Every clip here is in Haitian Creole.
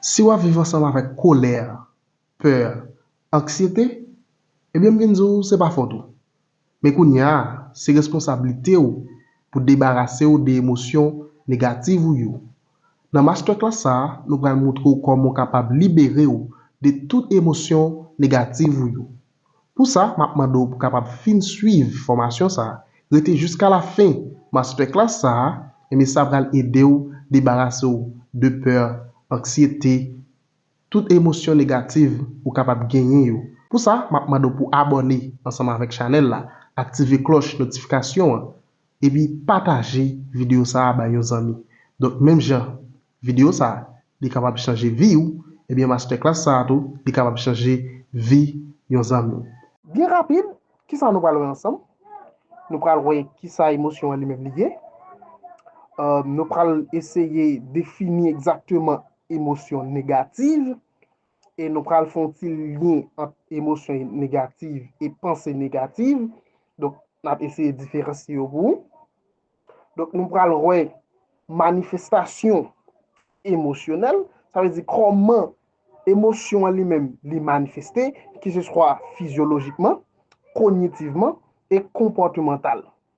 Si w ap viv ansanm avèk kolè, pè, anksyete, ebyen m vin di w se pa fòt ou. Men kounye a, se responsablite w pou debarase w de emosyon negativ ou yo. Nan masterclass sa a, nou pral moutre w kòman w kapab libere w de tout emosyon negativ ou yo. Pou sa, m ap mande w pou kapab fin swiv fòmasyon sa a, rete jiska lafen masterclass sa a, enben sa pral ede w debarase w de pè, anksyete, tout emosyon negativ ou kapab genyen yo. Pou sa, m ap mande w pou abòne ansanm avèk chanèl la, aktive klòch notifikasyon an, Epi pataje video sa a bay yon zanmi. Donk menm jan video sa a li kapab chanje vi ou, ebyen masterclass sa a tou li kapab chanje vi yon zanmi w. Byen rapid, kisa nou pral wè ansanm? Nou pral wè kisa emosyon an li menm li ye. Nou pral eseye defini egzakteman emosyon negativ e nou pral fon ti lyen ant emosyon negativ e panse negativ. Donk, n ap eseye diferansye yo pou ou. Donk, nou pral wè manifestasyon emosyonèl. Sa vle di kòman emosyon an li menm li manifeste, ki se swa fizyolojikman, konyitivman e konpòtimantal.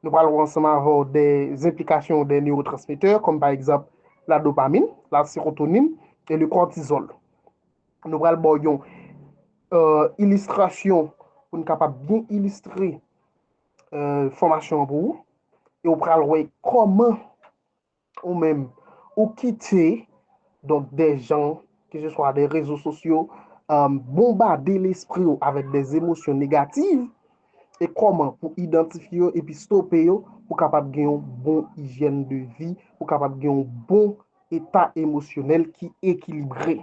Nou pral wè ansanm avè w de zenplikasyon de newotransmetè kòm pa egzanp la dopamin, la serotonin e le kòtizòl. Nou pral ba w yon ilistrasyon pou n kapab byen ilistre fòmasyon an pou ou e w pral wè kòman Ou menm, ou kite donk de jan, ke se swa de rezo sosyo, bonbade lespri ou avèk de emosyon negativ, e kòman pou idantifye yo epi stope yo pou kapab gen yon bon ijyèn de vi, pou kapab gen yon bon eta emosyonèl ki ekilibre.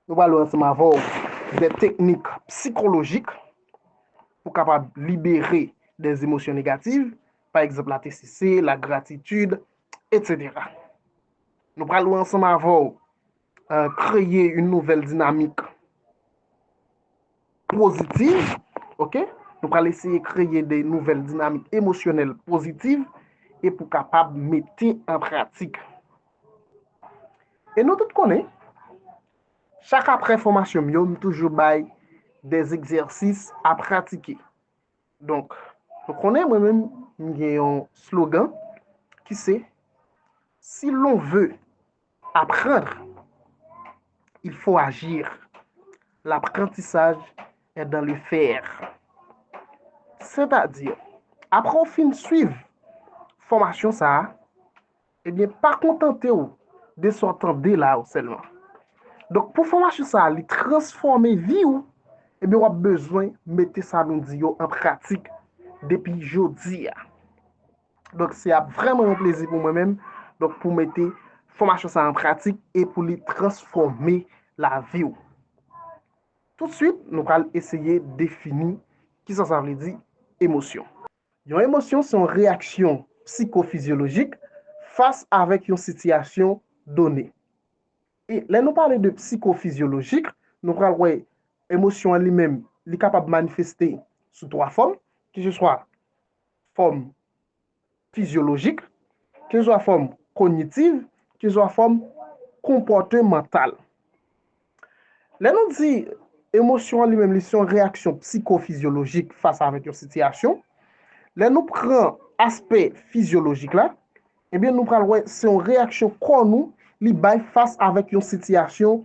Nou pral wè ansanm avè w de teknik psikolojik pou kapab libere de emosyon negativ, pa egzanp la TCC, la gratitid, etc. Nou pral wè ansanm avè w kreye yon nouvèl dinamik. pozitiv, ok, nou pral eseye kreye de nouvèl dinamik emosyonèl pozitiv e pou kapab mete an pratik. E nou tout konnen, chak apre fòmasyon m yo, m toujou bay de egzèsis a pratike. Donk, nou konnen mwen menm, m gen yon slogan ki se, si lon ve. Apprendre, il faut agir. L'apprentissage est dans le faire. Sètadi, apre ou fin swiv fòmasyon sa a, ebyen pa kontante ou de sa w tande la yo sèlman. Donk pou fòmasyon sa a li transfòme vi ou, ebyen w ap bezwen mete sa nou di yo an pratik depi jodi a. Donk se ap vrèman yon plezi pou mwen menm donk pou mete fòmasyon sa an pratik e pou li transfòme lavi ou. Tout swit nou pral eseye defini kisa sa vle di emosyon. Yon emosyon se yon reyaksyon psikofizyolojik fas avèk yon sitiyasyon done. E lè nou pale de psikofizyolojik nou pral wè emosyon an li menm li kapab manifeste sou 3 fòm, keseswa fòm fizyolojik, keseswa fòm konyitiv, keseswa fòm konpòtemantal. Lè nou di emosyon an li menm li se yon reyaksyon psiko-fizyolojik fas avèk yon sitiyasyon, lè nou pran aspè fizyolojik la, ebyen nou pral wè se yon reyaksyon kò nou li bay fas avèk yon sitiyasyon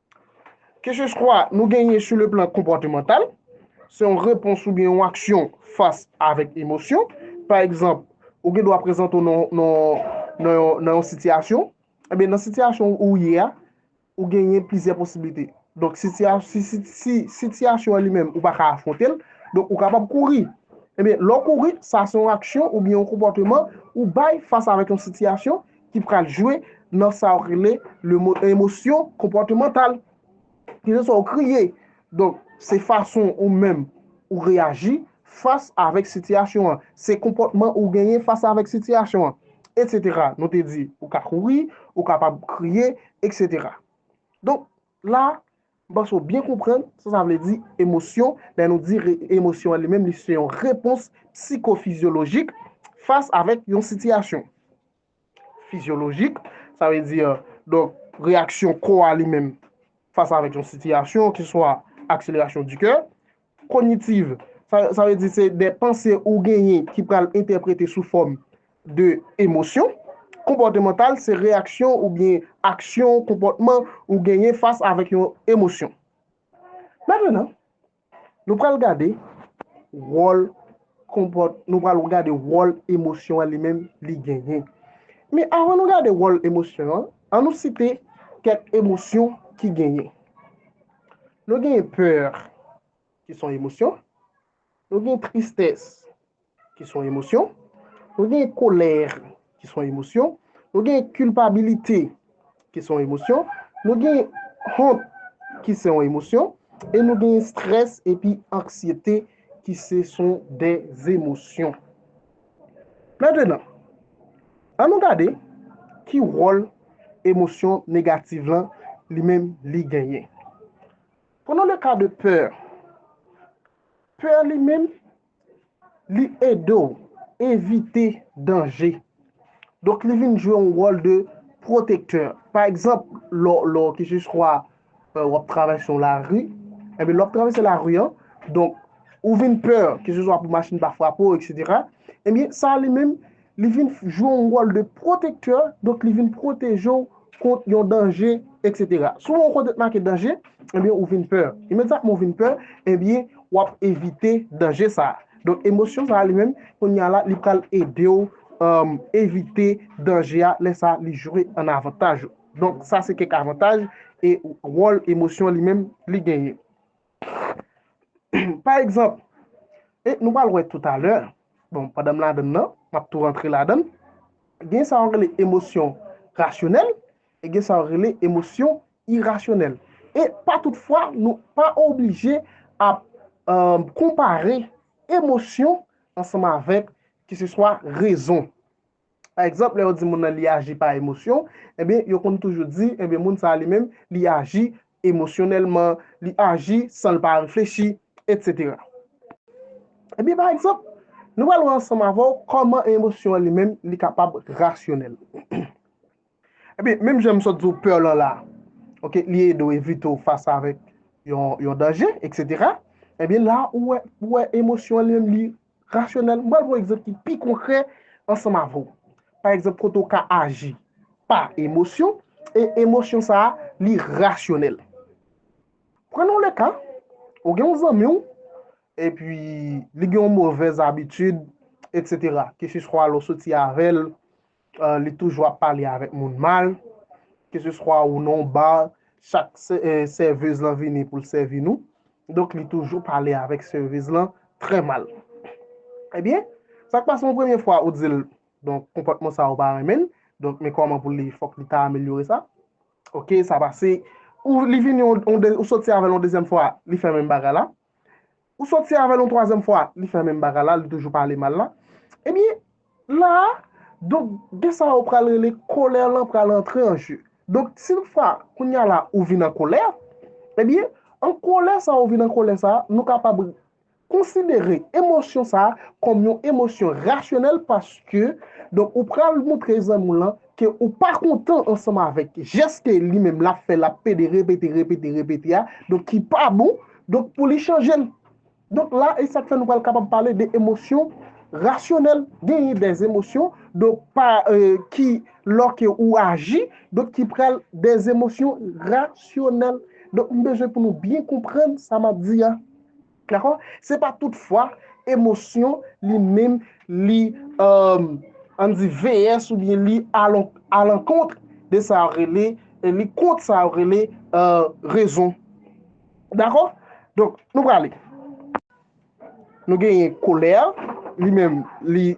Keseswa nou genyen sou le plan konpòtemantal, se yon repons oubyen yon aksyon fas avèk emosyon. Pa egzanp, ou gen dwa prezante w nan yon sitiyasyon. Ebyen, nan sitiyasyon ou ye a, ou genyen plizyè posiblite. Donk, si sitiyasyon an li menm ou pa ka afwonte l, donk ou kapab kouri. Ebyen, lè w kouri, sa se yon aksyon oubyen yon konpòteman ou bay fas avèk yon sitiyasyon. ki pral jwe nan sa yo rele emosyon konpòtemantal. Keseswa ou kriye, donk se fason ou menm ou reyaji fas avèk sitiyasyon an, se konpòtman ou genyen fas avèk sitiyasyon an, etsetera. Nou te di ou ka kouri, ou kapab kriye, etsetera. Donk la, M panse w byen konprann sa sa vle di emosyon lè nou di emosyon an li menm li se yon repons psikofizyolojik fas avèk yon sitiyasyon. Fizyolojik, sa vle di donk reyaksyon kò a li menm fas avèk yon sitiyasyon ki swa akselerasyon di kè, Kognitiv, sa vle di se de panse ou genyen ki pral entèprete sou fòm de emosyon. Konpòtemantal, se reyaksyon oubyen aksyon, konpòtman, ou genyen fas avèk yon emosyon. Mètenan, nou pral gade wòl konpòt, nou pral gade wòl emosyon an li menm li genyen. Men avan nou gade wòl emosyon an, an nou site kèk emosyon ki genyen. Nou genyen peur ki son emosyon, nou genyen tristès ki son emosyon, nou genyen kolèr ki son emosyon, nou genyen kilpabilite ki son emosyon, nou genyen hont ki son emosyon, e nou genyen strès epi anksyete ki se son de emosyon. Mètenan, an nou gade ki wòl emosyon negativ lan li menm li genyen. Prenons le cas de peur. Peur li menm li ede w evite danje. Donk li vin jwe yon wòl de protecteur. Pa egzanp, lò lò ki jis kwa w ap travèse yon lari, enben lè w ap travèse lari an, donk ou vin pè, ke se swa pou machin pa frape w eksetera, enben sa li menm li vin jwe yon wòl de pwotektè, donk li vin pwoteje w kont yon danje eksetera. Si w wè yon kote ki make danje, enben ou vin pè, imedyatman ou vin pè, enben w ap evite danje sa a. Donk emosyon sa a li menm, kounya la li pral ede w evite danje a, lè sa li jwe an avantaj ou. Donk sa se kèk avantaj e wòl emosyon li menm li genyen. Pa egzanp, e nou pral wè toutalè, bon pandan m ladann nan, m ap tou rantre ladann, gen sa yo rele emosyon rasyonèl e gen sa yo rele emosyon irasyonèl. E pa tout fwa nou pa oblije ap konpare emosyon ansanm avèk keseswa rezon. Pa egzanp, lè yo di moun nan li aji pa emosyon, enben, yo konn toujou di, enben, moun sa a li menm, li aji emosyonèlman, li aji san l pa reflechi, etsetera. Enben, pa egzanp, nou pral wè ansanm avè w kòman emosyon an li menm li kapab rasyonèl. Ebyen menm jan m sot di w peur lan la ok li ede w evite w fas avèk yon danje etc ebyen la ou wè ou wè emosyon an li menm li rasyonèl m pral pran yon egzanp ki pi konkrè ansanm avè w pa egzanp kote w ka aji pa emosyon e emosyon sa a li rasyonèl pran yon le ka ou gen yon zanmi w epi li gen yon movèz abitid etc ke se swa lè w soti avè l Li toujou ap pale avèk moun mal. Keseswa ou nan yon bar, chak sèvez lan vini pou l sèvi nou. Donk li toujou pale avèk sèvez lan trè mal. Ebyen, sa k pase yon premye fwa ou di l, donk konpòtman sa ou pa renmen l, donk men kòman pou li fòk li ta amelyore sa. Ok, sa pase, ou li vini yon ou soti avè l yon dezyèm fwa, li fè menm bagay la. Ou soti avèl yon twazyèm fwa li fè menm bagay la li toujou pale mal la ebyen la a donk gen sa yo pral rele kolè lan pral antre an jeu donk si yon fwa kounya la ou vin an kolè ebyen an kolè sa ou vin an kolè sa nou kapab konsidere emosyon sa kòm yon emosyon rasyonèl paske donk ou pral montre zanmi w lan ke ou pa kontan ansanm avèk jès ke li menm lap fè lap pede repete repete repete a donk ki pa bon Donk pou li chanje l. Donk la e sa k fè nou pral kapab pale de emosyon rasyonèl. Genyen de emosyon donk pa ki lò ke ou aji donk ki pral de emosyon rasyonèl. Donk m bezwen pou nou byen konprann sa m ap di a. Dakò? Se pa tout fwa emosyon li menm li an n di VS oubyen li alankontr de sa yo rele li kontr sa yo rele rezon. Dakò? Donk, nou prale. Nou genyen kolè, li menm, li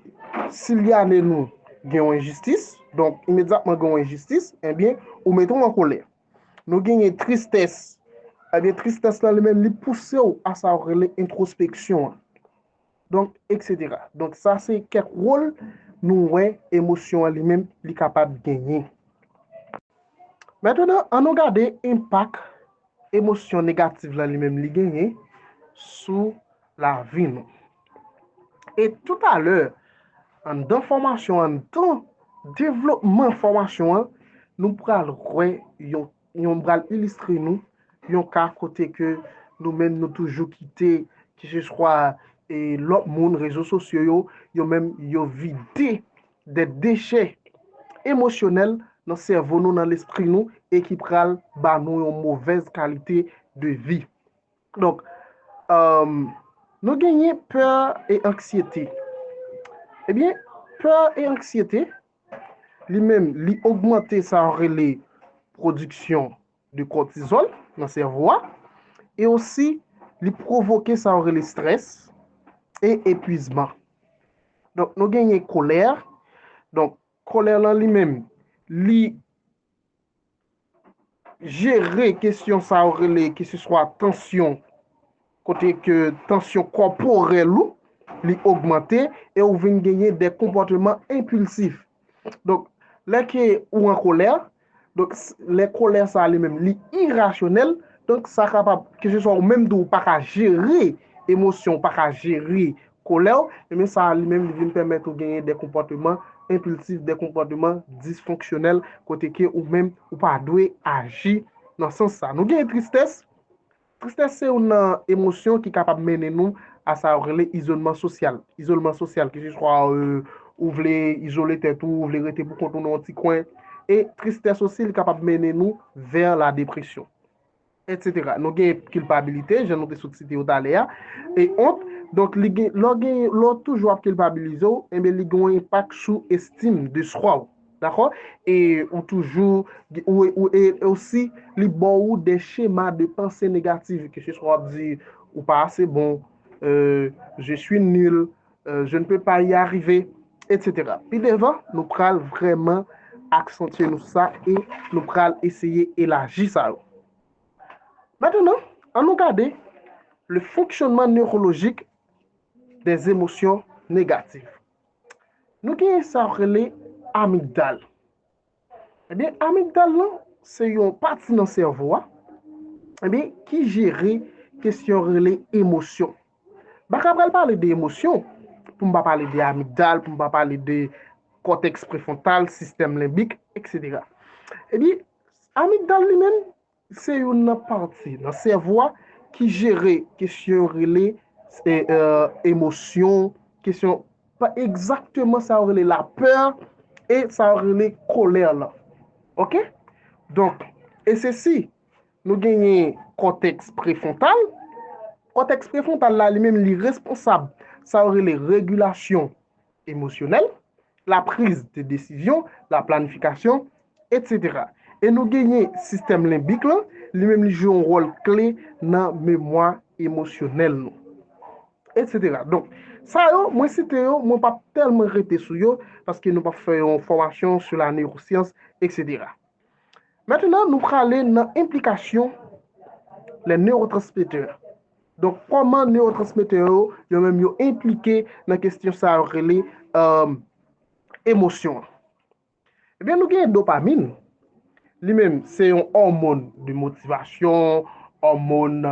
silyale nou gen yon enjistis. Donk, imedyatman gen yon enjistis, enbyen, eh ou mete w an kolè. Nou genyen tristès. Enbyen, eh tristès la li menm li pouse w a sa yo rele entwospeksyon an. Donk eksetera. Donk sa se kèk wol nou wè emosyon an li menm li kapab genyen. Mètènan an nou gade enpak emosyon negativ la li menm li genyen sou lavi nou. E tout alè anndan fòmasyon anndan devlopman fòmasyon an nou pral wè yon M pral ilistre nou yon ka kote ke nou menm nou toujou kite ki se swa lòt moun, rezo sosyo yo, yo menm yo vide de dechè emosyonèl nan sèvo nou, nan lespri nou e ki pral ba nou yon movèz kalite de vi. Donk, nou genyen pè e anksyete. Ebyen, pè e anksyete. li menm li ogmante sa yo rele pwodiksyon de kòtizòl nan sèvo a e osi li pwovoke sa yo rele strès e epwizman donk nou genyen kolè donk kolè lan li menm li jere kesyon sa yo rele ki se swa tansyon kote ke tansyon kòporèl ou li ogmante e ou vin genyen de konpòteman enpilsif donk lè ke ou an kolè donk lè kolè sa li menm li irasyonèl donk sa kapab ki se swa ou menm tou ou pa ka jere emosyon ou pa ka jere Kolè w, enben sa a li menm li vin pèmèt ou genyen de konpòteman enpilsif, de konpòteman disfonksyonèl kote ke ou menm ou pa dwe aji nan sans sa. Nou genyen tristès, tristès se youn nan emosyon ki kapab mennen nou a sa yo rele izolman sosyal, izolman sosyal ke se swa ou vle izole tèt ou, ou vle rete pou kont ou nan yon ti kwen e tristès osi li kapab mennen nou vè la depresyon. Etc. Nou gen kilpabilite, jan nou te sot site yo talè a, e ont, donk li gen, lè w gen, lè w toujou ap kilpabilize w, enben li gen yon enpak sou estim de swa w. Dakò? E ou toujou, ou, ou, e osi li ba w de chema de panse negatif, keseswa w ap di ou pa ase bon, euh, je suis nul, euh, je ne peux pas y arriver, etc. Pi devan, nou pral vreman aksantye nou sa e nou pral eseye elaji sa yo. Matanan, an nou gade le fonksyonman neurolojik de emosyon negatif. Nou gen sa rele amigdal. Ebyen amigdal lan se yon pati nan sèvo a ebyen ki jere kesyon rele emosyon. Baka pral pale de emosyon pou m pa pale de amigdal, pou m pa pale de kòtèks prefwontal, sistèm lenbik, eksetera. Ebyen amigdal li menm Se youn nan pati nan sèvo a ki jere kesyon yo rele emosyon, kesyon pa egzakteman sa yo rele lapè e sa yo rele kolè lan. Ok? Donk, e se si nou genyen kòtèks prefwontal, kòtèks prefwontal la li menm li responsab sa yo rele regilasyon emosyonèl, la prise de desizyon, la planifikasyon, etc. E nou genyen sistèm lenbik lan, li menm li jwe yon wòl kle nan memwa emosyonèl nou. Etc. Donk, sa yo, mwen site yo, mwen pa p tèlman rete sou yo, paske nou pa p fè yon fòmasyon sou la neyosyans, etc. Maintenant nou prale nan enplikasyon les neurotransmetteurs. Donk kòman neurotransmetteurs yo, yo menm yo enplike nan kesyon sa yo rele um, emosyon. Ebyen eh nou gen dopamin, li menm se yon hormone de motivation, hormone,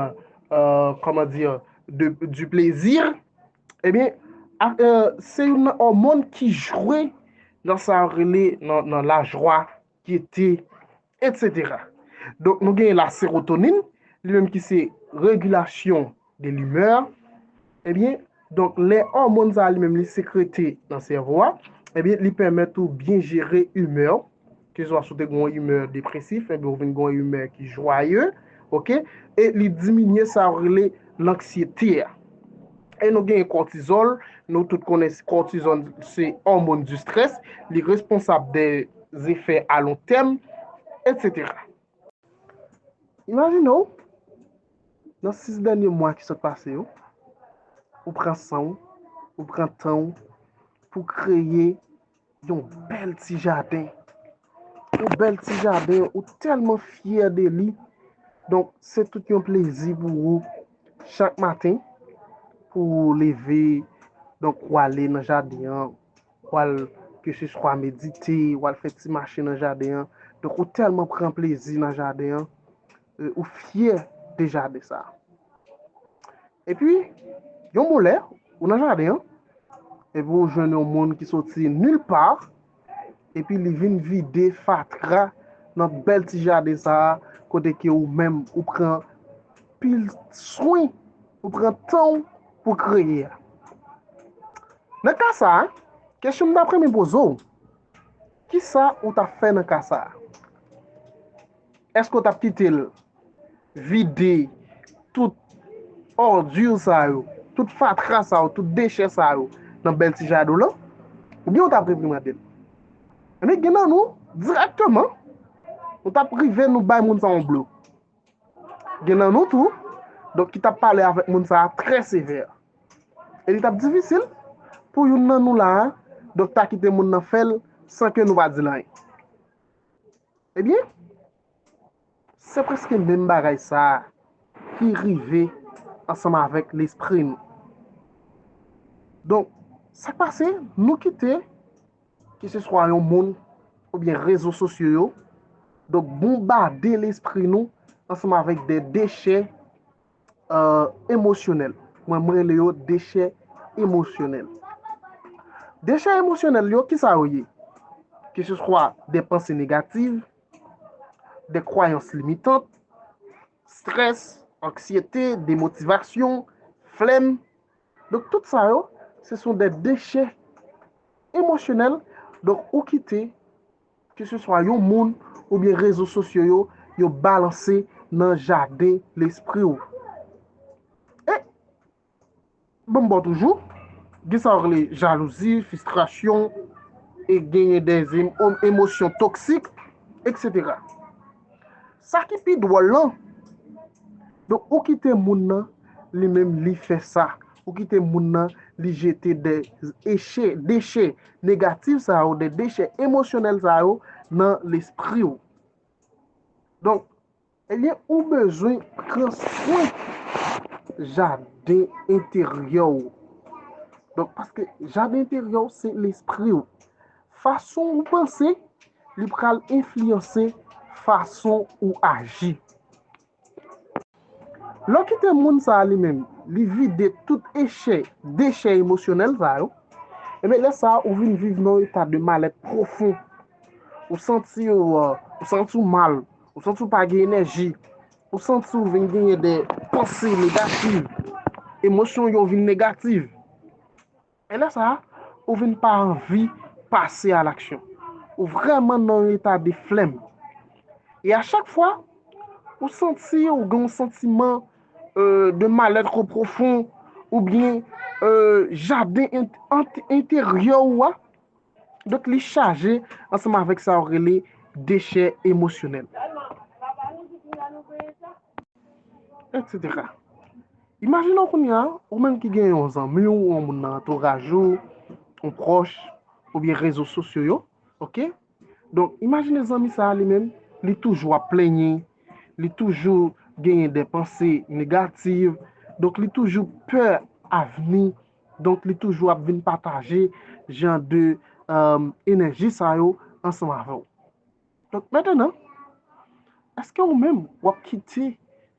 euh, comment dire, de, du plaisir, Ebyen, se youn nan òmon ki jwe nan sa yo rele nan lajwa, gete, etsetera. Donk nou gen la serotonin, li menm ki se regilasyon de limè. Ebyen, donk lè òmon sa li menm li sekrete nan sèvo a, ebyen li pèmèt ou byen jere imè ou. Kezwa si w te gen yon imè depresif, enben ou vin gen yon imè ki jwaye, ok, e li diminye sa yo rele lanksyete a. E nou gen kòtizòl, nou tout konnen kòtizòl se òmon di strès, li responsab de zefè alontèm, etsetera. Imajine w, nan 6 dènye mwa ki sot pase yo, ou pran san w, ou pran tan w pou kreye Yon bèl ti jaden. Yon bèl ti jaden. Ou tèlman fyè de li. Donk, se tout yon plezi pou ou. Chak maten, pou ou leve. Donk, ou ale nan jaden an. Ou al, ke se swa medite. Ou al fè ti mache nan jaden an. Donk, ou tèlman pran plezi nan jaden an. Ou fyè de jaden sa. Epi, yon bon lè, ou nan jaden an, epi ou jwenn yon moun ki soti nil pa, epi li vin vide fatra nan bèl ti jaden sa, kote ke ou menm ou pran pil swen, ou pran tan ou pou kreye a. Nan ka sa, kesyon m ta pran men poze ou, ki sa ou ta fè nan ka sa? Eske ou tap kite l vide tout òdure sa yo, tout fatra sa yo, tout dechè sa yo nan bèl ti jaden w lan? Oubyen ou tap reprimande l? Ebyen gen nan nou, dirèkteman, nou tap rive nou bay moun sa yon blo. Gen nan nou tou, donk ki tap pale avèk moun sa a trè sevè. E li tap difisil pou youn nan nou la a, donk ta kite moun nan fè l san ke nou pa di l anyen. Ebyen, se prèske menm bagay sa a ki rive ansanm avèk lespri nou. Donk, sa k pase, nou kite, ke se swa yon moun, oubyen rezo sosyo yo, donk bonbade lespri nou ansanm avèk de dechè, emosyonèl. Mwen m rele yo dechè emosyonèl. Dechè emosyonèl yo, kisa yo ye? Ke se swa de panse negativ, de kwayans limitant, strès, anksyete, demotivasyon, flèm. Donk tout sa yo, se son de dechè emosyonèl. Donk ou kite. Keseswa yon moun oubyen rezo sosyo yo, yo balanse nan jaden lespri w. E, ban m ba w toujou, gen sa yo rele jalouzi, fistrasyon, e genyen de emosyon toksik, eksetera. Sa ki pi dwòl lan, donk ou kite moun nan li menm li fè sa, ou kite moun nan li jete de eche, deche negatif sa yo, de deche emosyonèl sa yo nan lespri ou. Donk, ebyen ou bezwen pran swen jaden enteryè ou. Donk, paske jaden enteryè ou se lespri ou. Fason ou panse. Li pral enfliyanse fason ou aji. Lè w kite moun sa a li menm, li vide tout echè, dechè emosyonèl sa yo, enben lè sa a ou vin viv nan yon eta de malèt pwofon. Ou santi w, ou santi w mal, ou santi w pa gen enèji, ou santi w vin genyen de panse negativ, emosyon yo vin negativ. E lè sa a, ou vin pa anvi pase a laksyon. Ou vrèman nan yon eta de flèm. E a chak fwa, ou santi ou gen yon santiman de malèt ko pwofon ou byen jaden enteryè ou a, donk li chaje ansanm avèk sa yo rele dechè emosyonèl. Etsetera. Imajine w kounye a, ou menm ki gen yon zanmi w, yon moun nan antouraj ou, yon pwòch, oubyen rezo sosyo yo, ok? Donk, imajine zanmi sa a li menm, li toujou ap plenyen, li toujou genyen de panse negativ, donk li toujou pè avni, donk li toujou ap vin pataje jan de enèji sa yo ansanm avè w. Donk metandan, eske ou menm w ap kite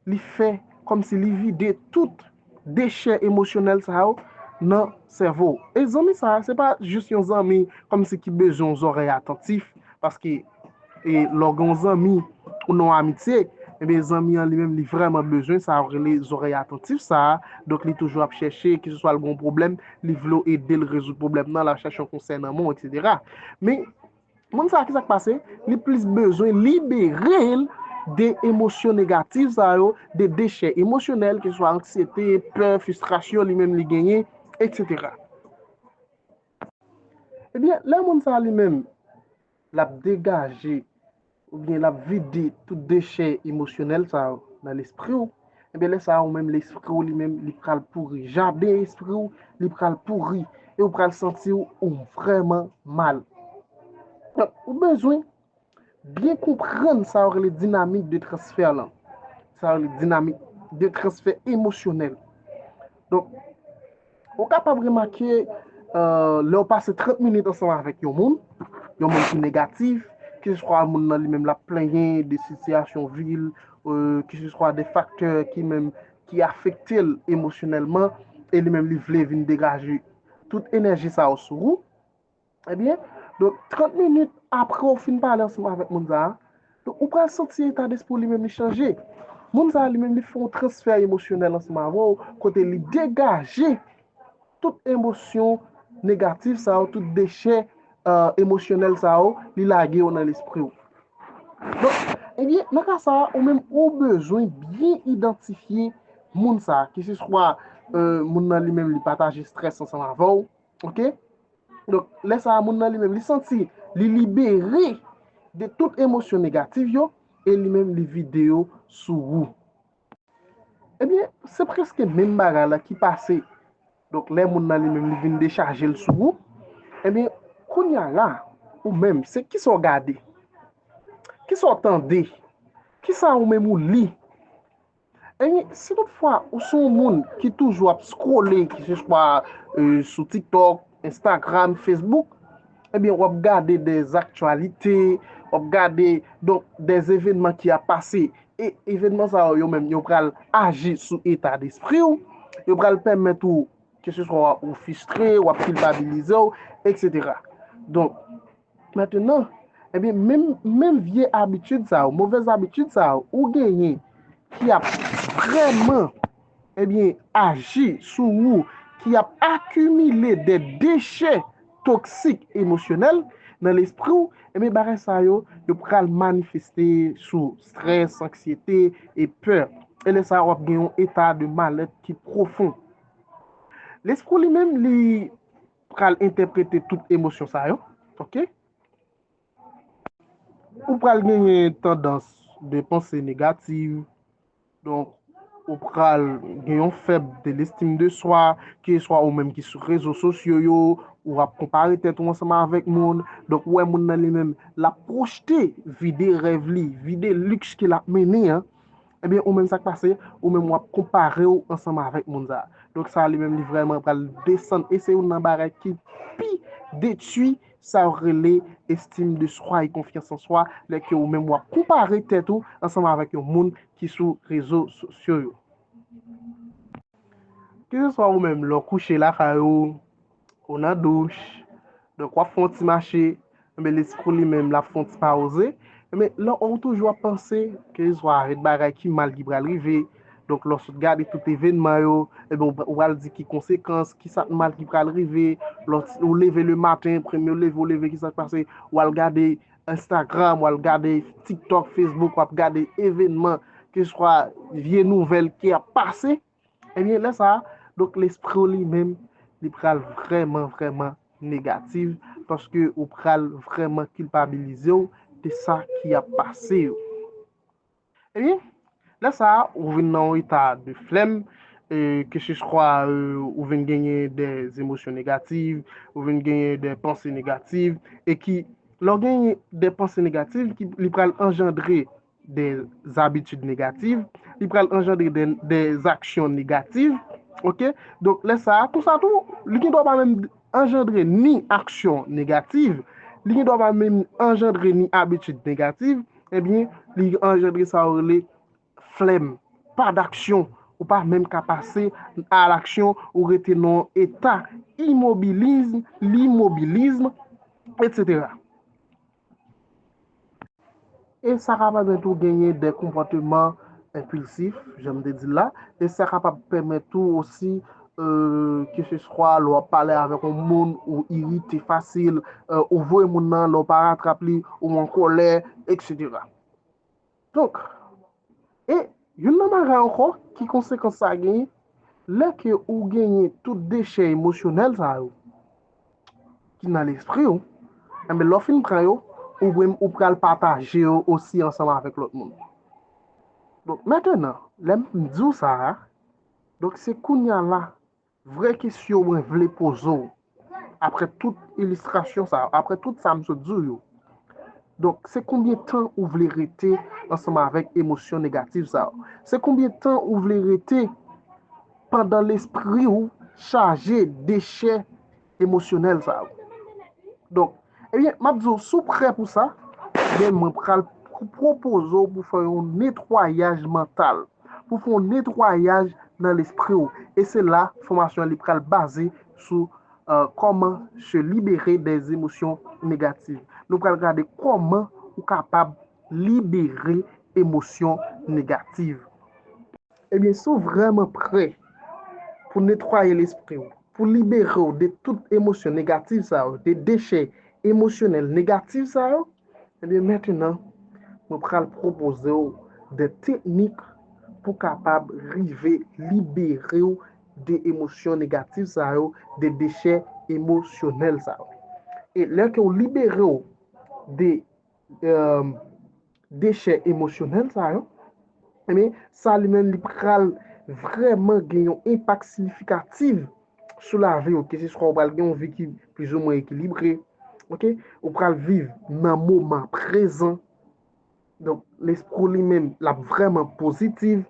li fè kòm si li vide tout dechè emosyonèl sa yo nan sèvo w? E zanmi sa a, se pa jis yon zanmi kòm si ki bezwen yon zòrèy atantif, paske e lè w gen yon zanmi ou nan yon amitye, enben zanmi an li menm li vrèman bezwen sa yo rele zòrèy atantif sa a, donk li toujou ap chèche, ki se swa l gen yon pwoblèm, li vle w ede l rezoud pwoblèm nan, l ap chèche yon konsèy nan men w, eksetera. Men, Moun sa kisak pase li plis bezwen liberel de emosyon negatif sa yo de dechè emosyonèl ke swa anksyete, pè, fistrasyon li menm li genyen etc. Ebyen lè moun sa li menm lap degaje. Oubyen lap vide tout dechè emosyonèl sa yo nan lespri w, enben lè sa a ou menm lespri w li menm li pral pouri, jaden espri w li pral pouri e ou pral santi w ou vrèman mal. Donk ou bezwen byen konprann sa yo rele dinamik de transfè lan, sa yo rele dinamik de transfè emosyonèl. Donk. Ou kapab remake lè ou pase 30 minit ansanm avèk yon moun, yon moun ki negatif, keseswa moun nan li menm l ap plenyen de sitiyasyon vi l, keseswa de faktè ki menm ki afekte l emosyonèlman e li menm li vle vin degaje tout enèji sa yo sou ou, Ebyen, donk 30 minit apre ou fin pale ansanm avèk moun sa a, ou pral santi etadespri w li menm li chanje. Moun sa a li menm li fè yon transfè emosyonèl ansanm avè w, kote li degaje tout emosyon negatif sa yo, tout dechè emosyonèl sa yo, li lage yo nan lespri w. Donk, ebyen, nan ka sa a, ou menm ou bezwen byen idantifye moun sa a, keseswa moun nan li menm li pataje strès ansanm avè w, Ok, donk lè sa a moun nan li menm li santi li libere de tout emosyon negatif yo e li menm li vide yo sou ou. Ebyen, se preske menm bagay la ki pase, donk lè moun nan li menm li vin dechaje l sou ou, ebyen kounya la ou menm se kisa w gade, kisa w tande, kisa ou menm ou li Ebyen, si tout fwa ou se yon moun ki toujou ap scrolle ki se swa sou tiktok, instagram, facebook, ebyen wap gade de zaktyalite, wap gade donk de evenman ki ap pase e evenman sa yo yo menm yo pral aji sou eta despri ou, yo pral pèmèt ou ke se swa ou fistre, wap kilpabilize ou, eksetera. Donk. Maintenant, ebyen menm menm vye abitid sa yo, movèz abitid sa yo ou genyen ki ap vrèman ebyen aji sou ou, ki ap akimile de dechè toksik emosyonèl nan lespri w, ebyen bagay sa yo, yo pral manifeste sou strès, anksyete e pè. E lè sa a w ap gen yon eta de malèt ki pwofon. Lespri w li menm li. pral entèprete tout emosyon sa yo, ok? Ou pral genyen tandans de panse negativ, donk, ou pral gen yon fèb de lestim de swa, ke swa ou menm ki sou rezo sosyo yo, ou ap konpare tèt ou ansanm avèk moun, donk ou wè moun nan li menm, l ap pwojte vide rèv li, vide liks ke l ap mennen an, Ebyen ou menm sak pase, ou menm wap konparew ansanm avèk moun sa. Donk sa li menm li vrèman pral desann e se youn nan bagay ki pi detui sa yo rele estime de soi e konfyans an swa lè ke ou menm wap konpare tèt ou ansanm avèk yon moun ki sou rezo sosyo yo. Ke se swa ou menm lè w kouche lakay ou, Ou nan douch, donk wap fon ti mache, enben lespriw li menm lap fon ti pauze, enben lè ou toujou ap panse, keseswa avèk bagay ki mal ki pral rive, donk lè ou sot gade tout evènman yo, enben ou pral di ki konsekans, ki sak mal ki pral rive, lè ou leve le maten, premye ou leve ou leve ki sak pase, ou al gade Instagram, ou al gade TikTok, Facebook, wap gade evènman, keseswa vye nouvèl ki ap pase. Ebyen lè sa, donk lespri w li menm li pral vrèman vrèman negatif paske ou pral vrèman kilpabilize w de sa ki ap pase yo. Ebyen, lè sa ou vin nan yon eta de flèm, keseswa ou vin genyen de zemosyon negatif, ou vin genyen de panse negatif e ki lè w genyen de panse negatif li pral anjandre de zabitid negativ, li pral anjandre de zaksyon negativ, ok, donk lè sa, kon sa tou, li gen dwa pa menm anjandre ni aksyon negativ, li gen dwa pa menm anjandre ni abitid negativ, ebyen, li anjandre sa yo rele flèm, pa daksyon, ou pa menm ka pase a laksyon, ou rete nan eta imobilizm, limobilizm, etc. E sa ka pèmèt ou genyen de konpòteman enpilsif, jan m te di l la, e sa kapab pèmèt ou osi, keseswa lè w ap pale avèk yon moun, ou irite fasil, ou voye moun nan lè w pa ratrap li, ou an kòlè, eksetera. Donk, e youn nan bagay ankò ki konsekans sa genyen, lè ke ou genyen tout dechè emosyonèl sa yo ki nan lespri ou, enben lè w fin pran yo, ou menm ou pral pataje yo osi ansanm avèk lòt moun. Donk, mentenan, lè m di w sa a, donk se kounya la Vrè kesyon mwen vle poze w, aprè tout ilistrasyon sa yo, aprè tout sa m sot di w yo, donk se konbyen tan ou vle rete ansanm avèk emosyon negatif sa yo? Se konbyen tan ou vle rete pandan lespri w chaje dechè emosyonèl sa yo? Donk, ebyen, m ap di w, si w prè pou sa, ebyen mwen pral pwopoze w pou fè yon netwayaj mantal. pou fè yon netwayaj nan lespri w e se la fòmasyon an li pral baze sou kòman se libere dè emosyon negativ. Nou pral gade kòman ou kapab libere emosyon negativ. Ebyen si w vrèman prè pou netwaye lespri w, pou libere w de tout emosyon negatif sa yo, de dechè emosyonèl negatif sa yo, ebyen mentenan mwen pral pwopoze w de teknik pou kapab rive libere w de emosyon negatif sa yo, de dechè emosyonèl sa yo. E lè ke w libere w de dechè emosyonèl sa yo, ebyen sa li menm li pral vrèman gen yon enpak siyifikativ sou lavi ou, keseswa ou pral gen yon vi ki plizoumwen ekilibre, ok, ou pral viv nan moman prezan, donk lespri ou li menm l ap vrèman pozitiv,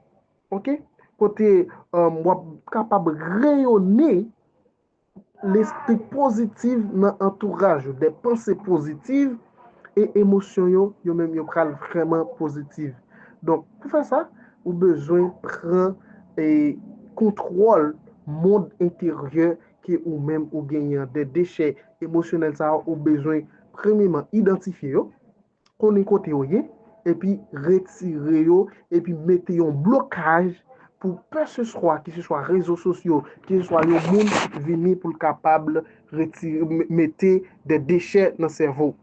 ok, kote w ap kapab reyone. Lespri pozitiv nan antouraj ou, de panse pozitiv e emosyon yo, yo menm yo pral vrèman pozitiv. Donk, pou fè sa, ou bezwen pran e kontwòl mond enteryè ke ou menm ou genyen an, de dechè emosyonèl sa yo ou bezwen premyeman idantifye yo, konnen kote yo ye, epi retire yo, epi mete yon blokaj pou ke se swa, ki se swa rezo sosyo, ki se swa yon moun vini pou l kapab retire, mete de dechè nan sèvo w.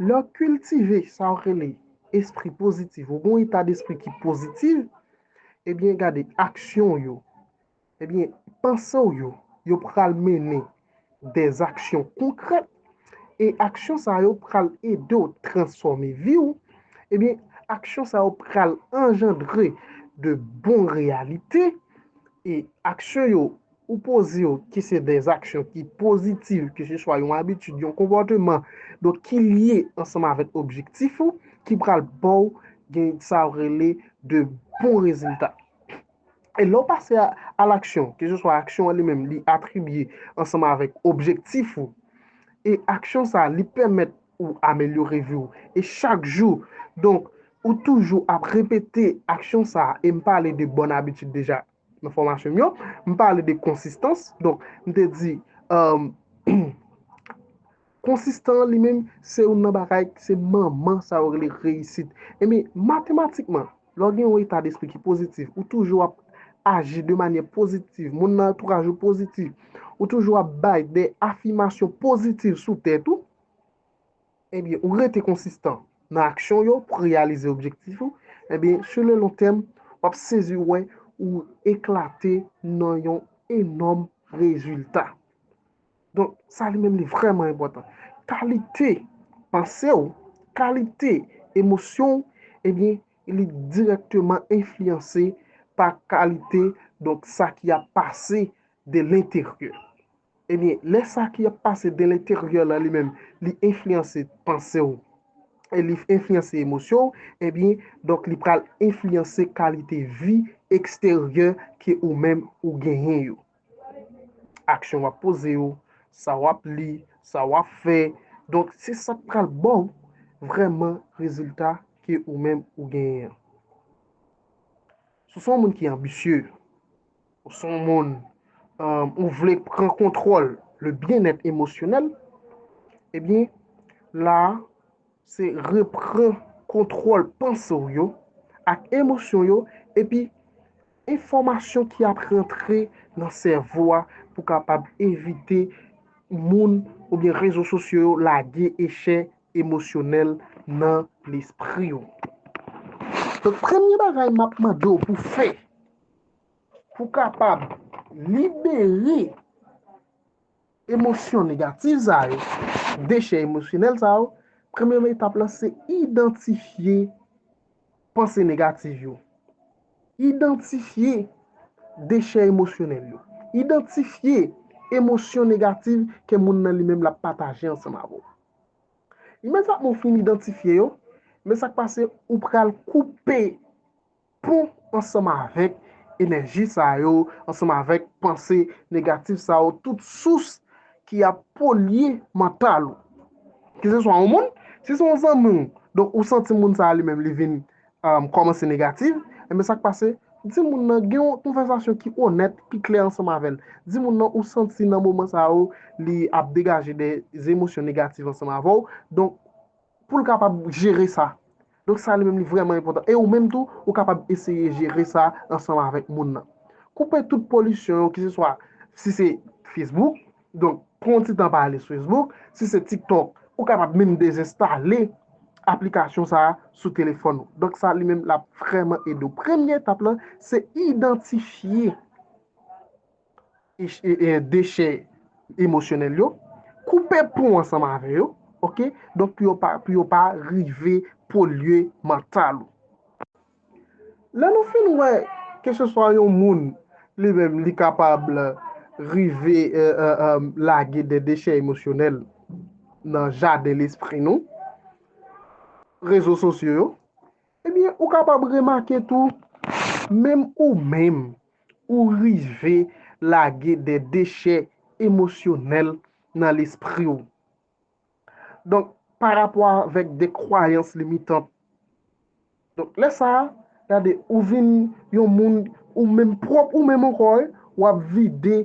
Lè w kiltive sa yo rele espri pozitif, ou gen yon eta despri ki pozitif, ebyen gade aksyon yo, Ebyen, panse w yo, yo pral mennen dè aksyon konkrèt, e aksyon sa yo pral ede w transfòme vi w, ebyen, aksyon sa yo pral anjandre de bon reyalite, e aksyon yo ou poze yo ki se dè aksyon ki pozitiv, ke se swa yon abitid, yon konpòteman, donk ki lye ansanm avèk objektif ou, ki pral ba w gen sa yo rele de bon rezilta. E lè w pase a laksyon, keseswa aksyon an li menm li atribye ansanm avèk objektif ou, e aksyon sa li pèmèt ou amelyore vi w, e chak jou, donk ou toujou ap repete aksyon sa, e m pale de bòn abitid deja nan fòmasyon m yo, m pale de konsistans, donk m te di, Konsistan an li menm se youn nan bagay ki se manman sa yo rele reyisit. Ebyen, matematikman, lè w gen yon eta despri ki pozitif, ou toujou ap aji de manyè pozitif, moun nan antouraj ou pozitif, ou toujou ap bay de afimasyon pozitif sou tèt ou, ebyen, ou rete konsistan nan aksyon w yo pou reyalize objektif ou, ebyen, sou le lon tèm, w ap sezi wè ou eklate nan yon enòm rezilta. Donk, sa li menm li vrèman enpòtan. Kalite panse ou, kalite emosyon ou, ebyen, li dirèkteman enfliyanse pa kalite, donk, sa ki ap pase de lenteryè. Ebyen, lè sa ki ap pase de lenteryè la li menm, li enfliyanse panse ou, e li enfliyanse emosyon ou, ebyen, donk, li pral enfliyanse kalite vi eksteryè ke ou menm ou genyen yo. Aksyon wap poze yo, sa wap li, sa wap fè. Donk se sa k pral ba w vrèman rezilta ke ou menm ou genyen an. Si w se yon moun ki anbisye, ou se yon moun ou vle pran kontwòl le byenèt emosyonèl, ebyen la a Se repran kontwòl panse w yo ak emosyon yo epi enfòmasyon ki ap rantre nan sèvo a pou kapab evite moun oubyen rezo sosyo yo lage echè emosyonèl nan lespri w. Donk premye bagay m ap mande w pou fè pou kapab libere Emosyon negatif sa yo, dechè emosyonèl sa yo, premye etap la se idantifye panse negatif yo. Idantifye dechè emosyonèl yo. Idantifye emosyon negatif ke moun nan li menm l ap pataje ansanm avè w. Imediatman ou fin idantifye yo, men sa k pase ou pral koupe Pou, ansanm avèk enèji sa yo, ansanm avèk panse negatif sa yo, tout sous ki ap polye mantal ou. Ke se swa yon moun, si se yon zanmi w, donk ou santi moun sa a li menm li vin kòmanse negatif, enben sa k pase, di moun nan gen yon konvèsasyon ki onèt, ki klè ansanm avè l. Di moun nan ou santi nan moman sa yo li ap degaje de emosyon negatif ansanm avè w, donk, Pou l kapab jere sa. Donk sa li menm li vrèman enpòtan. E ou menm tou, ou kapab eseye jere sa ansanm avèk moun nan. Koupe tout polisyon yo ki se swa si se Facebook, donk pran yon ti tan pa ale sou Facebook, si se TikTok, ou kapab menm dezenstale aplikasyon sa a sou telefòn ou. Donk sa li menm l ap vrèman ede w. Premye etap lan se idantifye. dechè emosyonèl yo, koupe pon ansanm avè yo, ok, donk pou yo pa rive polye mantal ou. Lè nou fin wè ke se swa yon moun li menm li kapab rive lage de dechè emosyonèl nan jaden lespri nou, rezo sosyo yo, ebyen ou kapab remake tou menm ou menm ou rive lage de dechè emosyonèl nan lespri w. Donk, pa rapò avèk de kwayans limitan. Donk, lè sa a, gade, ou vin yon moun, ou menm pwòp ou menm ankò, w ap vide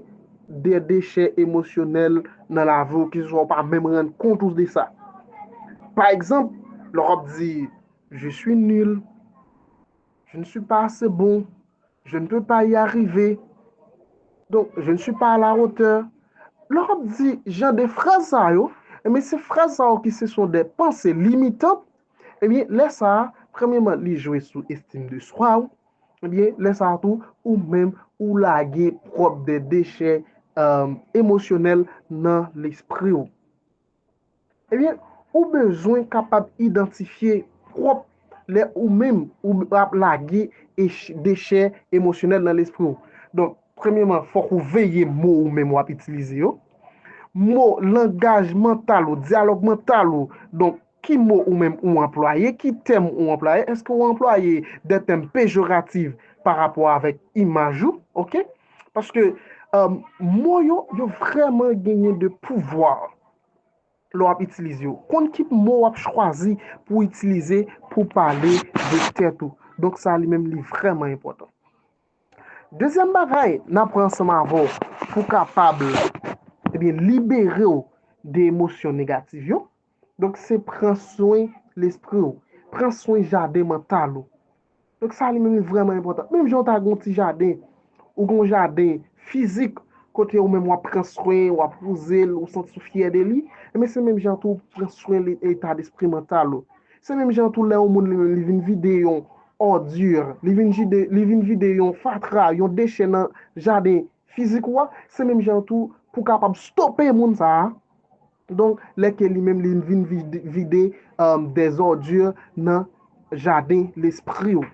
de dechè emosyonèl nan lavi w ki swa ou pa menm rann kont ou de sa. Pa egzanp, lè w ap di, Je suis nul. Je ne suis pas assez bon. Je ne peux pas y arriver. Donk, je ne suis pas à la hauteur. Lò ap di jan de fraz sa yo, ebyen eh se fraz sa yo ki se son de panse limitant, ebyen eh lè sa, premyeman li jwe sou estim de swa ou, ebyen eh lè sa tou ou menm ou lage pwòp de dechè emosyonèl nan lespri ou. Ebyen, ou bezwen kapab idantifye pwòp lè ou menm ou ap lage dechè emosyonèl nan lespri w. Donk, premyeman, fòk ou veye mo ou menm ou ap itilize yo. Mo, langaj mantal ou, dyalòg mantal ou. Donk, ki mo ou menm ou anplwaye, ki tèm ou anplwaye, èske ou anplwaye de tèm pejoratif parapò avèk imaj ou, ok. Paske mo yo, yo vrèman genyen de pouvwa lè w ap itilize yo. Konn ki mo w ap chwazi pou w itilize pou w pale de tèt ou. Donk sa li menm li vrèman enpòtan. Dezyèm bagay n ap pran ansanm avè w pou w kapab libere w de emosyon negatif yo. Donk se pran swen lespri w. Pran swen jaden mantal ou. Donk sa li menm li vrèman enpòtan. Menm jan ou ta gen yon ti jaden, ou gen yon jaden fizik kote ou menm w ap pran swen, w ap wouze l, ou santi w fyè de li, enben se menm jan tou pou pran swen eta despri mantal ou. Se menm jan tou lè yon moun li menm li vin vide yon òdi, li vin jide, li vin vide yon fatra, yon dechè nan jaden fizik ou a, se menm jan tou pou w kapab stope moun sa a, Donk, lè ke li menm li vin vide des ordures nan jaden lespri ou.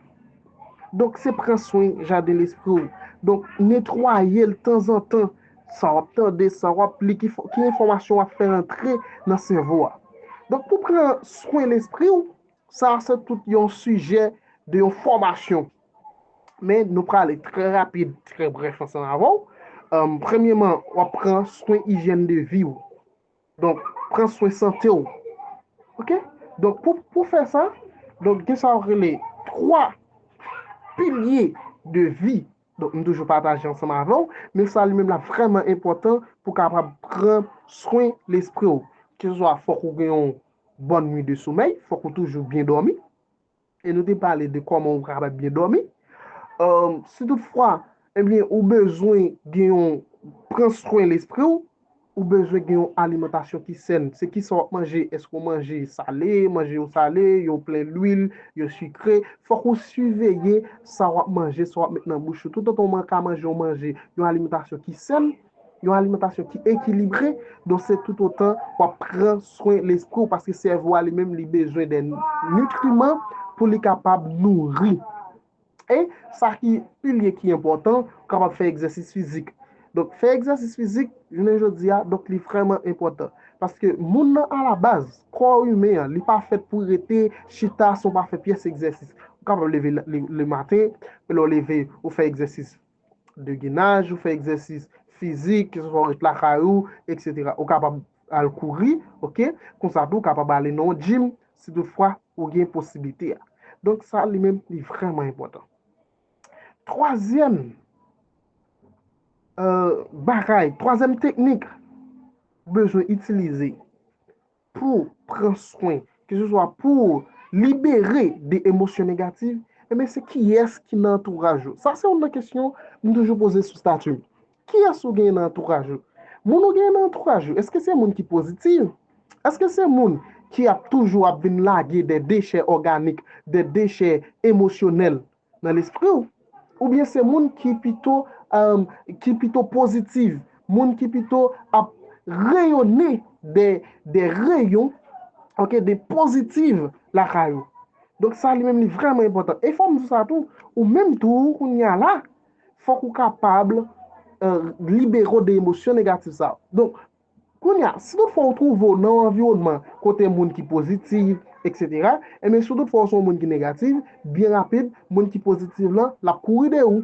Donk, se pran swen jaden lespri ou. Donk, netwaye l tanzantan. Sa w ap tande, sa w ap li, ki enfòmasyon w ap fè rantre nan sèvo a. Donk, pou pran swen lespri ou, sa se tout yon sijè de yon fòmasyon. Men nou prale trè rapid, trè brèf ansanm avè w. Premyeman, w ap pran swen ijyèn de vi w. Donk, pran swen sante w. Ok? Donk, pou fè sa, donk gen sa yo rele 3 pilye de vi. Donk, m toujou pataje ansanm avè w. Men sa li menm la vrèman enpòtan pou w kapab pran swen lespri w. Keseswa fòk ou gen yon bòn nwi de somèy, fòk ou toujou byen dòmi. E nou te pale de kòman ou kapab byen dòmi. Si tout fwa, ebyen eh ou bezwen gen yon pran swen lespri ou, ou bezwen gen yon alimantasyon ki sèn. Se ki sa wap manje, eske ou manje sale, manje yo sale, yo plen lwil, yo sikre. Fòk ou siveye sa wap manje, sa wap met nan bouch ou. Toutotan ou ka manje yon manje, yon alimantasyon ki sèn. Yon alimantasyon ki ekilibre, donk se tout otan w ap pran swen lespri w, paske sèvo a li menm li bezwen de nitriman pou li kapab nouri. E, sa ki pi lye ki enpòtan, ou kapab fè egzèsis fizik. Donk, fè egzèsis fizik, jounen jodi a, donk li vrèman enpòtan. Paske moun nan alabaz, kò imen an, li pa fèt pou rete chita san w pa fè pyès egzèsis. Ou kapab leve le maten, lè w leve, ou fè egzèsis de genaj, ou fè egzèsis fizik, ke se swa ou ret lakay ou, eksetera. Ou kapab al kouri, ok? Konsa tou, ou kapab ale nan yon jim, si tout fwa ou gen posiblite a. Donk sa li menm li vreman enpòtan. Twazyèm bagay, twazyèm teknik ou bezwen itilize pou pran swen, ke se swa pou libere de emosyon negatif, enben se kiyès ki nan antouraj ou? Sa se youn nan kesyon m toujou poze sou stati m. Kiyès ou genyen nan antouraj ou? Moun ou genyen nan antouraj ou, èske se moun ki pozitif? Èske se moun ki ap toujou ap vin lage de dechè òganik, de dechè emosyonèl nan lespri w? Oubyen se moun ki pito, umm, ki pito pozitiv, moun ki pito ap reyone de, de reyon, ok, de pozitiv lakay ou? Donk sa li menm li vrèman enpòtan. E fò m di w sa tou, ou menm tou, kounye a la, fòk ou kapab, umm, libere w de emosyon negatif sa yo. Donk, Kounye a, si tout fwa ou twouve w nan yon anviwònman kote moun ki pozitiv, eksetera, enben si tout fwa ou se yon moun ki negativ, byen rapid, moun ki pozitiv lan, l ap kouri de ou.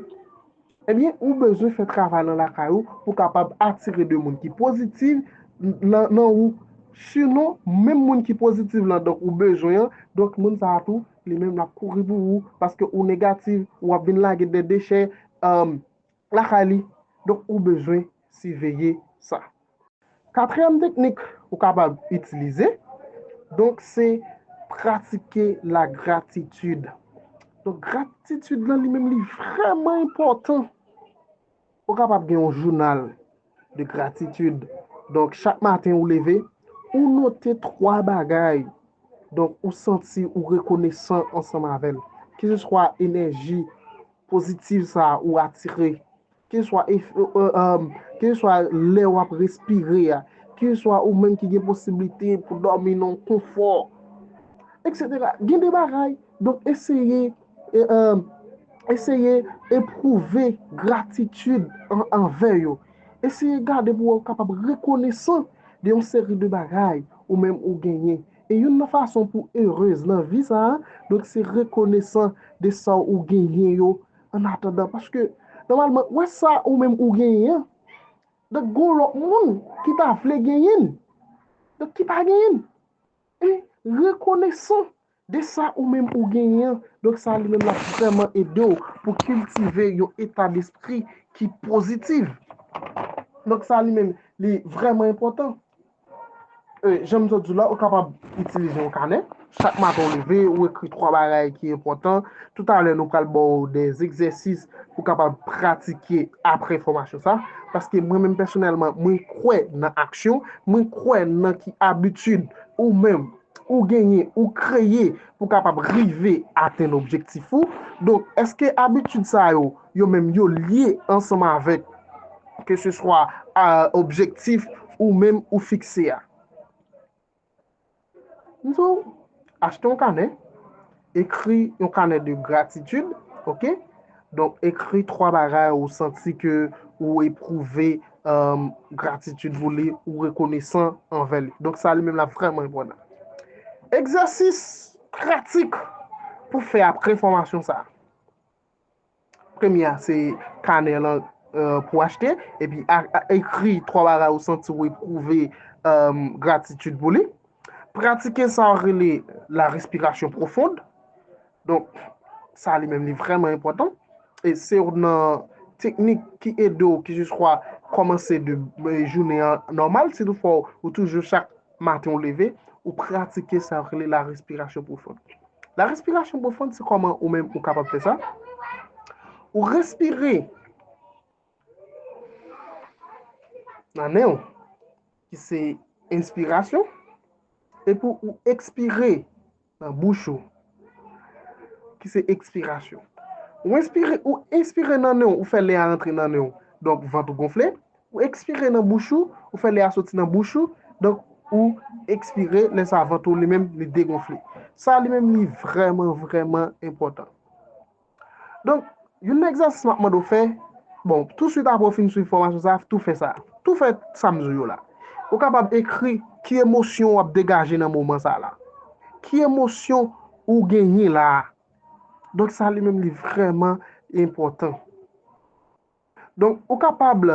Ebyen, ou bezwen fè travay lan lakay ou pou w kapab atire de moun ki pozitiv lan nan ou. Sinon, menm moun ki pozitiv lan donk ou bezwen an, donk moun sa a tou, li menm l ap kouri pou ou, paske ou negativ, ou ap vin lage de dechè, lakay li donk ou bezwen siveye sa. Katriyèm teknik ou kapab itilize donk se pratike la gratitid donk gratitid lan li menm li vrèman enpòtan ou kapab gen yon jounal. de gratitid. Donk, chak maten ou leve, ou note 3 bagay. Donk, ou santi ou rekonesan ansanm avè l. Keseswa enèji pozitiv sa a ou atire, keseswa ef, eeèm, keseswa lè ou ap respire a, keseswa ou menm ki gen posiblite pou dòmi nan konfò, eksetera. Gen de bagay. Donk, eseye Eseye epwouve gratitid anvè yo. Eseye gade pou ou kapab rekonesan de yon seri de bagay ou menm ou genyen. E youn nan fason pou erez nan vi sa a, donk se rekonesan de sa ou genyen yo an atandan. Paske, nòmalman, wè sa ou menm ou genyen an, donk gen yon lòt moun ki ta vle genyen l, donk ki pa genyen l. E rekonesan De sa ou menm ou genyen an, donk sa li menm l ap vrèman ede w pou kiltive yon etadespri ki pozitiv. Donk sa li menm li vrèman enpòtan. Jan m sot di w la, ou kapab itilize yon kanè. Chak maten ou leve, ou ekri twa bagay ki enpòtan. Toutalè nou pral ba w de egzèsis pou w kapab pratike apre fòmasyon sa. Paske mwen menm pèsonèlman, mwen kwè nan aksyon, mwen kwè nan ki abitid ou menm ou genyen, ou kreye pou kapab rive atenn objektif ou. Donk, èske abitid sa yo, yo menm yo lye ansanm avèk ke se swa objektif ou menm ou fikse a? M di w, achte yon kanè. Ekri yon kanè de gratitid, ok, donk ekri 3 bagay ou santi ke ou epwouve gratitid pou li, ou rekonesan anvè li. Donk sa li menm la vreman enpòtan. Egzèsis pratik pou fè apre fòmasyon sa. Premye a se kanè lan pou achte epi ekri 3 bagay ou santi ou epwouve gratitid pou li. Pratike sa ou rele la respirasyon pwofond. Donk sa li menm li vreman enpòtan. E se yon nan teknik ki ede ou ki jis kwa kòmanse de jounen an nòmal. Si tou fò ou toujou chak Maten ou leve, ou pratike sa yo rele la respirasyon pwofon. La respirasyon pwofon se kòman ou menm ou kapab fè sa. Ou respire nan nen ou ki se enspirasyon epi ou ekspire Nan bouch ou, ki se ekspirasyon. Ou enspire, ou enspire nan nen ou, ou fè lè a rantre nan nen ou, donk vant ou gonfle. Ou ekspire nan bouch ou, ou fè lè a soti nan bouch ou, donk ou ekspire, lè sa vant ou li menm li degonfle. Sa li menm li vrèman, vrèman enpòtan. Donk, youn nan egzèsis m ap mande w fè, bon, touswit apre w fin swiv fòmasyon sa a, tou fè sa a. Tou fè sa m di w yo la. Ou kapab ekri ki emosyon w ap degaje nan moman sa a la. Ki emosyon ou genyen la a? Donk, sa li menm li vrèman enpòtan. Donk, ou kapab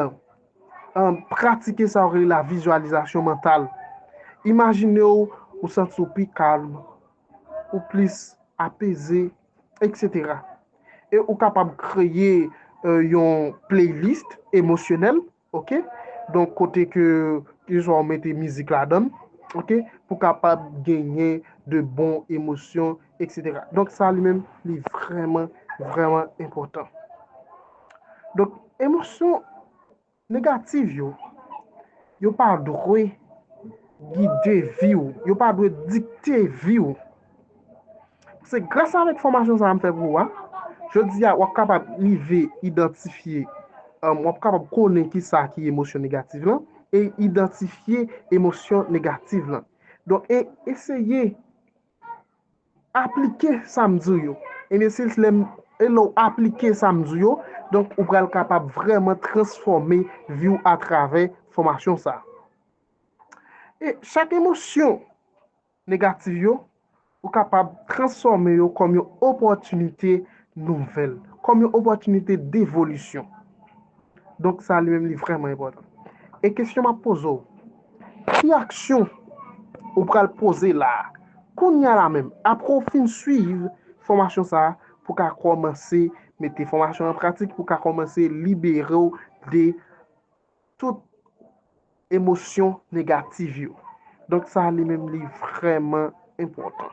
pratike sa yo rele la vizualizasyon mantal. Imajine w ou santi w pi kalm, ou plis apeze, etc. E ou kapab kreye yon playlist emosyonèl, ok, donk kote ke keswa ou mete mizik ladan, ok, pou kapab genyen de bon emosyon. Etc. Donk sa li menm li vrèman, vrèman enpòtan. Donk emosyon negatif yo, yo pa dwe gide vi ou, yo pa dwe dikte vi ou. Se gras avèk fòmasyon sa a m fè pou ou a, jodi a w ap kapab rive idantifye, w ap kapab konnen ki sa ki emosyon negatif lan, e idantifye emosyon negatif lan. Donk e eseye. Aplike sa m di w yo. In a sense, lè m, e lè w aplike sa m di w yo, donk ou pral kapab vrèman transfòme vi w atravè fòmasyon sa a. E chak emosyon negatif yo, ou kapab transfòme yo kòm yon opòtinite nouvèl, kòm yon opòtinite devolisyon. Donk sa li menm li vrèman enpòtan. E kesyon m ap poze w, ki aksyon ou pral poze la a, kounya la menm, apre w fin suiv fòmasyon sa a pou w ka kòmanse mete fòmasyon an pratik, pou w ka kòmanse libere w de tout emosyon negativ yo? Donk sa li menm li vrèman enpòtan.